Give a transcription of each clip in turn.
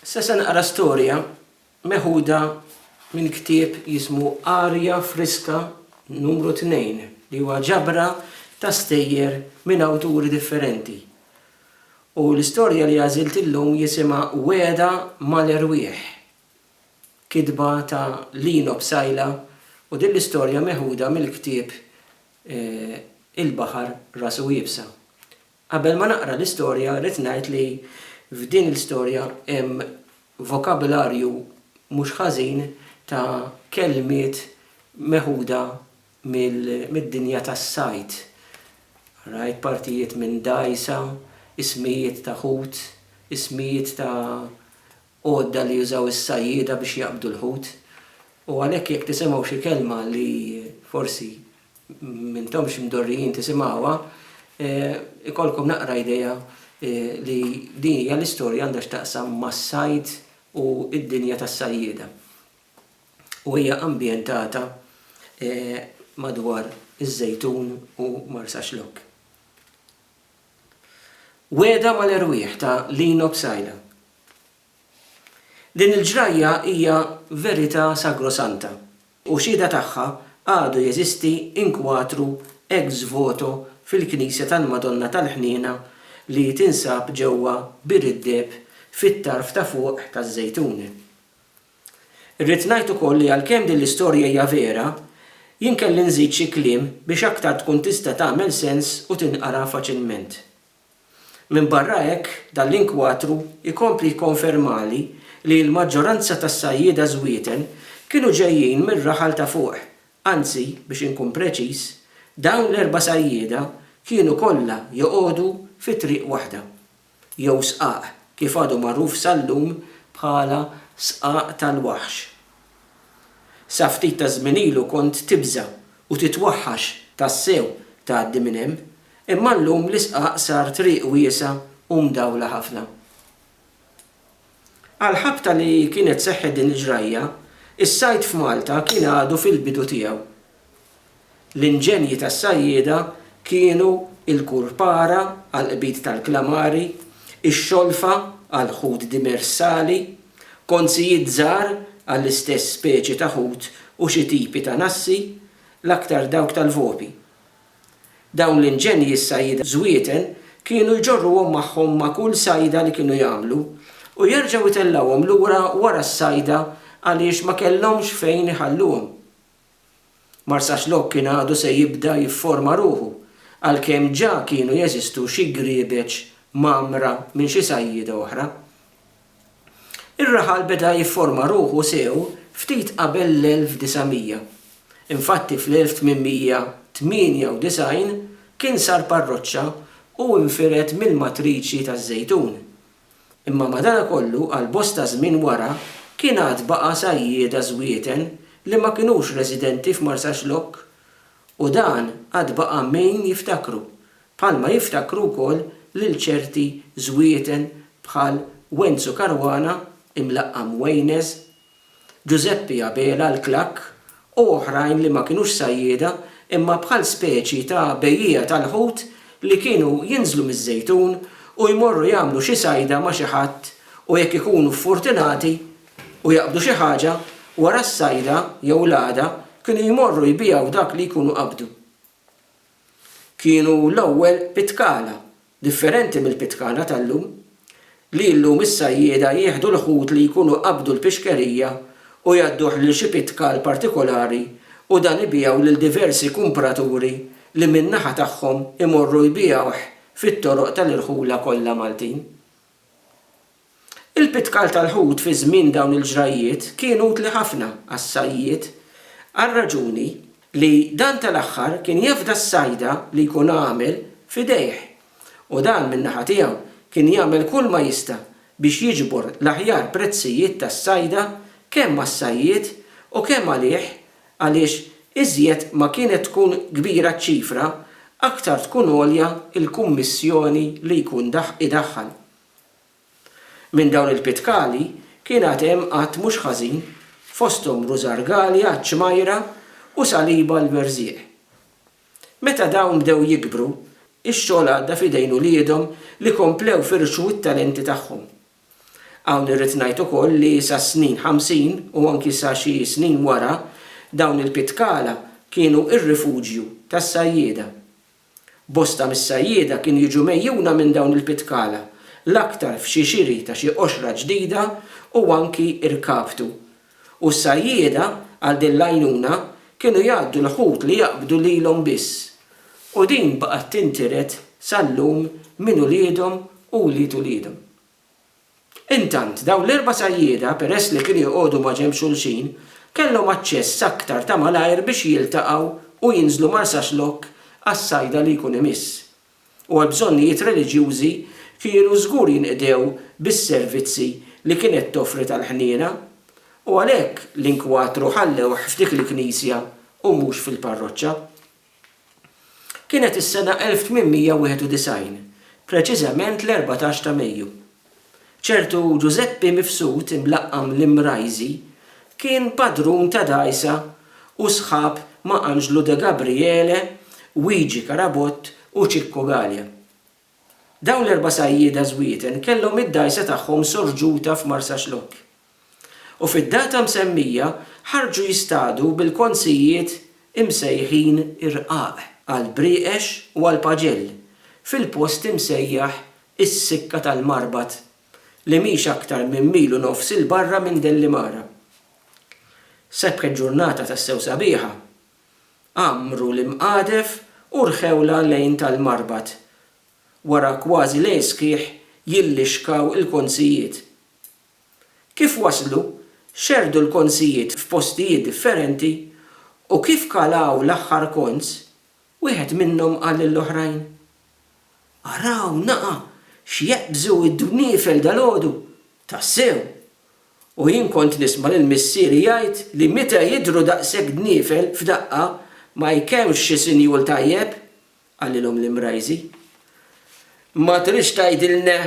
Issa se naqra storja meħuda minn ktieb jismu Arja Friska Numru Tnejn li huwa ġabra ta' stejjer minn awturi differenti. U l-istorja li għażilt illum jisimha Wegħda mal-Erwieħ. Kitba ta' Lino Psaila u din l-istorja meħuda mill-ktieb Il-Baħar Rasu Iebsa. Qabel ma naqra l-istorja rrid ngħid li f'din il-storja hemm vokabularju mhux ħażin ta' kelmiet meħuda mid-dinja tas-sajd. Rajt partijiet minn dgħajsa, ismijiet ta' ħut, ismijiet ta' għodda li jużaw is-sajjieda biex jaqbdu l-ħut. U għalhekk jekk tisimgħu xi kelma li forsi m'intomx mdorrijin tisimgħuha, ikollkom naqra idea li din hija l-istorja għandha x'taqsam mas-sajd u d-dinja tas-sajjieda. U hija ambjentata madwar iż-Żejtun u Marsaxlokk. Wegħda mal-erwieħ ta' Lino Psaila. Din il-ġrajja hija verità sagrosanta u xhieda tagħha għadu jeżisti inkwatru ex voto fil-Knisja tal-Madonna tal-Ħniena li tinsab ġewwa Bir id-Deheb fit-tarf ta' fuq taż-Żejtuni. Irrid ngħid ukoll li għalkemm din l-istorja hija vera, jien kelli nżid xi kliem biex aktar tkun tista' tagħmel sens u tinqara faċilment. Minbarra hekk, dan l-inkwatru jkompli jikkonfermali li l-maġġoranza tas-sajjieda żwieten kienu ġejjin mir-raħal ta' fuq, anzi, biex inkun preċiż, dawn l-erba' sajjieda kienu kollha joqogħdu fi triq waħda, jew sqaq, kif għadu magħruf sal-lum bħala Sqaq tal-Waħx. Sa ftit taż-żmien ilu kont tibża' u titwaħħax tassew tgħaddi minn hemm, imma llum l-isqaq sar triq wiesgħa u mdawla ħafna. Għall-ħabta li kienet seħħet din il-ġrajja, is-sajd f'Malta kien għadu fil-bidu tiegħu L-inġenji tas-sajjieda kienu l-kurpara għall-qbid tal-klamari, ix-xolfa għall-ħut dimersali, konzijiet żgħar għall-istess speċi ta' ħut u xi tipi ta' nassi, l-aktar dawk tal-volpi. Dawn l-inġenji s-sajjieda żwieten kienu jġorruhom magħhom ma' kull sajda li kienu jagħmlu u jerġgħu jtellgħuhom lura wara s-sajda għaliex ma kellhomx fejn iħalluhom. Marsaxlokk kien għadu se jibda jifforma ruħu, għalkemm ġa kienu jeżistu xi griebeġ mgħammra minn xi sajjieda oħra. Ir-raħal beda jifforma ruħu sew ftit qabel l-1900. Infatti fl-1898 kien sar parroċċa u nfired mill-matriċi taż-Żejtun. Imma madanakollu għal bosta żmien wara kien għad baqa' sajjieda żwieten li ma kinux residenti f'Marsaxlokk u dan għad baqa' min jiftakru, bħalma jiftakru wkoll lil ċerti żwieten bħal Wenzu Caruana imlaqqam Waynes Ġużeppi Abela l-Klakk u oħrajn li ma kinux sajjieda imma bħal speċi ta' bejjiegħa tal-ħut li kienu jinżlu miż-Żejtun u jmorru jagħmlu xi sajda ma' xi ħadd u jekk ikunu ffortunati u jaqbdu xi ħaġa, wara s-sajda jew l-għada kienu jmorru jbiegħu dak li jkunu qabdu. kienu l-ewwel pitkala, differenti mill-pitkala tal-lum, li llum is-sajjieda jieħdu l-ħut li jkunu qabdu l-pixkerija u jgħadduh lil xi pitkal partikolari u dan ibigħu lil diversi kumpraturi li min-naħa tagħhom imorru jbigħuh fit-toroq tal-irħula kollha Maltin. Il-pitkal tal-ħut fi żmien dawn il-ġrajjiet kien utli ħafna għas-sajjied għar-raġuni li dan tal-aħħar kien jefda s-sajda li jkun għamel f'idejh u dan min-naħa tiegħu kien jagħmel kull ma jista' biex jiġbor l-aħjar prezzijiet tas-sajda kemm għas-sajjied u kemm għalih għaliex iżjed ma kienet tkun kbira ċ-ċifra aktar tkun għolja l-kummissjoni li jkun idaħħal. Minn dawn il-pitkali kien għad hemm għadd mhux ħażin, fosthom rużar għali għaċ-ċmajra u saliba għall-werżieq. Meta dawn bdew jikbru, ix-xogħol għadda f'idejn uliedhom li komplew firxu t-talenti tagħhom. Hawn irrid ngħid ukoll li sas-snin ħamsin u anki sa xi snin wara, dawn il-pitkala kienu r-rifuġju tas-sajjieda. Bosta mis-sajjieda kienu jiġu megħjuna minn dawn il-pitkala, l-aktar f'xi xiri ta' xi qoxra ġdida u anki rkaptu. U s-sajjieda, għal din l-għajnuna, kienu jgħaddu l-ħut li jaqbdu lilhom biss. U din baqgħet tintiret sal-lum minn uliedhom u wlied uliedhom. Intant, dawn l-erba' sajjieda, peress li kienu joqogħdu maġenb xulxin, kellhom aċċess aktar ta' malajr biex jiltaqgħu u jinżlu Marsaxlokk għas-sajda li jkun imiss, u għall-bżonnijiet reliġjużi kienu żgur jinqdew bis-servizzi li kienet toffri tal-ħniena, u għalhekk l-inkwatru ħallewh f'dik il-knisja u mhux fil-parroċċa. Kienet is-sena 1891, preċiżament l-erbatax ta' Mejju. Ċertu Ġużeppi Mifsud imlaqqam l-Imrajżi kien padrun ta' dgħajsa u sħab ma' Anġlu De Gabriele, Wiġi Carabott u Ċikku Galea. Dawn l-erba' sajjieda żwieten kellhom id-dgħajsa tagħhom sorġuta f'Marsaxlokk u fid-data msemmija ħarġu jistadu bil-konzijiet imsejħin irqaq, għall-brieqex u għall-paġell, fil-post imsejjaħ is-Sikka tal-Marbat li mhix aktar minn mil u nofs 'il barra minn Dellimara. Sebħet ġurnata tassew sabiħa għammru l-imqadef u rħewlha lejn tal-marbat. Wara kważi lejl sħiħ jillixkaw il-konzijiet. Kif waslu, xerrdu l-konzijiet f'postijiet differenti u kif kalaw l-aħħar konz, wieħed minnhom qal lill-oħrajn, Araw naqa' x'jeqbżu d-dwniefel dalgħodu! Tassew! U jien kont nisma' lil missieri jgħid li meta jidhru daqshekk dniefel f'daqqa ma jkemx xi sinjul tajjeb, qalilhom l-Imrajżi. Ma tridx tgħidilna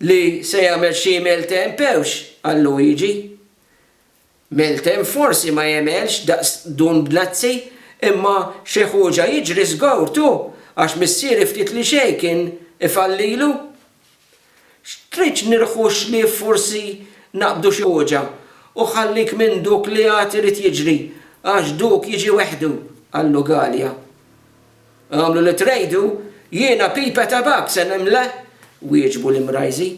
li se jagħmel xi maltempewx? qal Luigi. Meltem forsi ma jegħmelx daqs Dun Bnazzi, imma xi ħuġa jiġri żgur tu għax missieri ftit li xejn kien ifallilu. X'tridx nirħu xlief forsi naqbdu xi ħuġa u ħallik minn duk li għad irid jiġri għax duk jiġi weħdu, qallu Galea. Għamlu li trejdu, jiena pipa tabakk se nimla, wieġbu l-Imrajżi.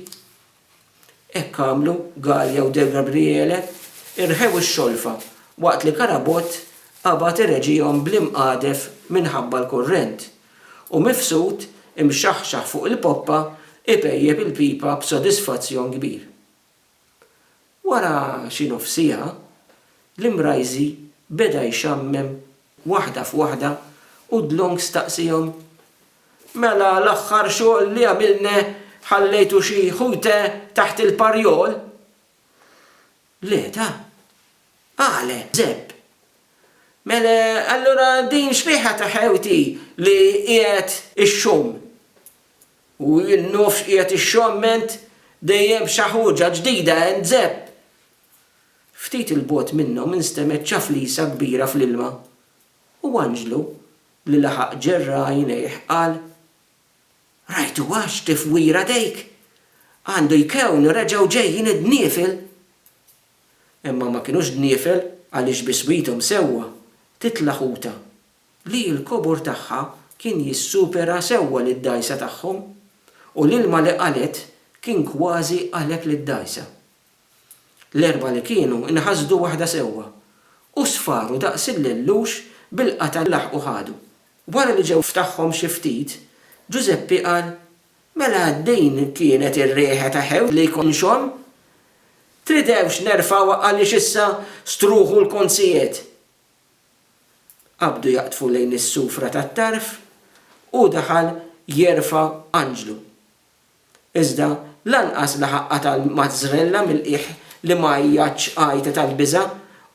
Hekk għamlu Gallia u De Gabriele, irħew ix-xolfa waqt li Carabott qabad ireġihom bl-imqadef minħabba l-kurrent, u Mifsud, imxaħxaħ fuq il-poppa, ipejjep il-pipa b'sodisfazzjon kbir. Wara xi nofs siegħa, l-Imrajżi beda jxammem waħda f'waħda u Dlong staqsiehom, Mela l-aħħar xogħol li għamilne ħallejtu xi ħute taħt il-parjol? Le, ta. Qale, Żepp. Mela allura din xbieha ta' ħewti li qiegħed ixxomm? U n-nofs qiegħed ixxomment dejjem xi ħuġa ġdida għand Żepp. Ftit 'il bogħod minnhom instemgħet ċaflisa kbira fl-ilma. U anġlu, li laħaq ġerra għajnejh, qal, Rajtuhax tifwira dejk? Għandu jkewn reġgħu ġejjin id-dniefel! Imma ma kinux dniefel, għaliex biswithom sewwa, titla' ħuta, li l-kobor tagħha kien jissupera sewwa lid-dgħajsa tagħhom, u l-ilma li qalgħet kien kważi għalek lid-dgħajsa. L-erbgħa li kienu nħasdu waħda sewwa, u sfaru daqs il-lellux bil-qatgħa li laħqu ħadu. Wara li ġew ftaħhom xi ftit, Ġużeppi qal, Mela din kienet ir-riħa ta' ħewż li jkun xogħol? Tridewx nerfgħuha għaliex issa struħu l-konzijiet? Qabdu jaqdfu lejn is-sufra tat-tarf, u daħal jerfa' anġlu. Iżda lanqas laħaq qata' l-mazzrella mill-qiegħ li ma għajjatx għajta tal-biża'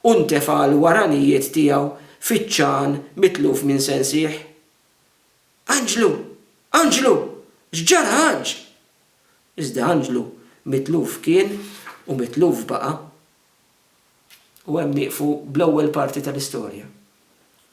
u ntefa' l-waranijiet tiegħu fiċ-ċagħan mitluf minn sensih. Anġlu! Anġlu! X'ġara Anġ? Iżda Anġlu mitluf kien u mitluf baqa'. U hemm nieqfu bl-ewwel parti tal-istorja.